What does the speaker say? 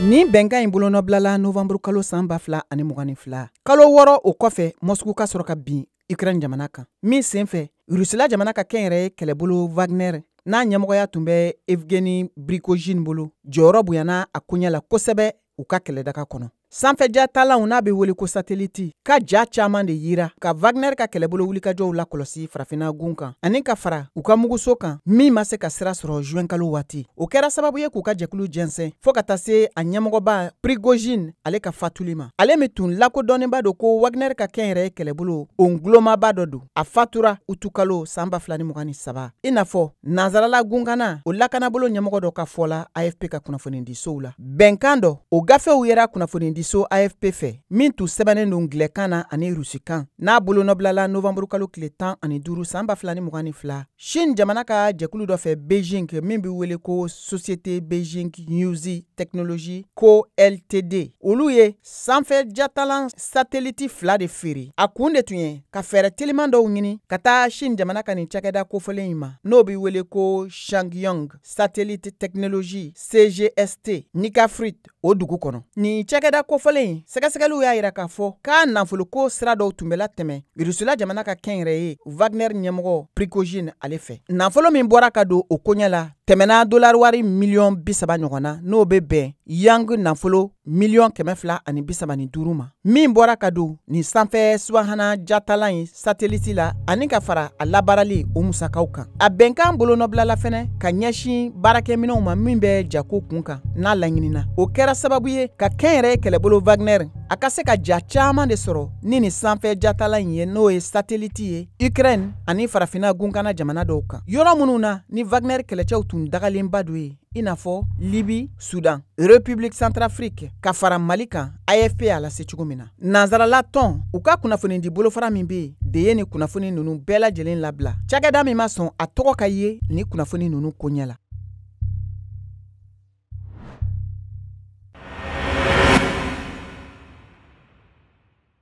Nin bɛnkan in bolonɔbilala novanburu kalo san ba fila ani mugan ni fila kalo wɔɔrɔ o kɔfɛ moscou ka sɔrɔ ka bin ukraine jamana kan min senfɛ rusila jamana ka kɛnyɛrɛye kɛlɛbolo wagner n'a ɲɛmɔgɔya tun bɛ evgueni prigojine bolo jɔyɔrɔ bonyana a koɲɛ la kosɛbɛ u ka kɛlɛdaga kɔnɔ sanfɛ jatalanw n'a bɛ wele ko sateliti ka ja caaman de yira ka wagner ka kɛlɛbolo wulikajɔw lakɔlɔsi farafina gun kan ani ka fara u ka muguso kan min ma se ka sira sɔrɔ juɛnkalo waati o kɛra sababu ye k'u ka jɛkulu jɛnsɛn fɔɔ ka taa se a ɲɛmɔgɔba prigojine ale ka fatuli ma ale min tun lakodɔnnenba don ko wagner ka kɛnyɛrɛye kɛlɛbolo o ngulomaba dɔ don a fatura utukalo san ba fila ni mugan ni saba i n'a fɔ Nansarala gunkana o lakanabolo ɲɛmɔgɔ dɔ ka fɔ la AFP ka kunnafonidisow la bɛnkan dɔ o gafew yera kunnafonidiso AFP fɛ min tun sɛbɛnnen don angilɛkan na ani rusikan n'a bolonɔbilala novanburukalo tile tan ani duuru san ba fila ni mugan ni fila Chine jamana ka jɛkulu dɔ fɛ Beijing min bɛ wele ko Société Beijing Yunze Technology Co Ltd olu ye sanfɛ jatalan sateliti fila de feere a kun de tun ye ka fɛɛrɛ teliman dɔw ɲini ka taa chine jamana ka nin cakɛda kofɔlen in ma n'o bɛ wele ko chang guang satellite technology cgst nika-frut o dugu kɔnɔ nin cakɛda kofɔlen in sɛgɛsɛgɛliw y'a yira k'a fɔ k'a nafoloko sira dɔw tun bɛ latɛmɛ irusila jamana ka kɛnyɛrɛye wagner ɲɛmɔgɔ prigojine ale fɛ nafolo min bɔra ka don o koɲɛ la tɛmɛna dolari wari miliyɔn bisaba ɲɔgɔn na n'o bɛ bɛn yuan nafolo miliyɔn kɛmɛ fila ani bisaba ni duuru ma min bɔra ka don nin sanfɛ subahana jatalan in sateliti la ani ka fara a labaarali o musakaw kan a bɛnkan bolonɔbilala fɛnɛ ka ɲɛsin baarakɛminɛw ma min bɛ jako kun kan n'a laɲinina o kɛra sababu ye ka kɛnyɛrɛye kɛlɛbolo wagner a ka se ka ja caaman de sɔrɔ ni nin sanfɛ jatalan in ye n'o ye sateliti ye ukraine ani farafina gunkana jamana dɔw kan yɔrɔ minnu na ni wagner kɛlɛcɛw tun dagalenba don yen i n'a fɔ libi sudan république centrafrique ka fara mali kan afp y'a lase cogo min na nansarala tɔn u ka kunnafonidi bolofara min bɛ yen de ye nin kunnafoni nunu bɛɛ lajɛlen labila cakɛda min ma sɔn a tɔgɔ ka ye nin kunnafoni nunu koɲɛ la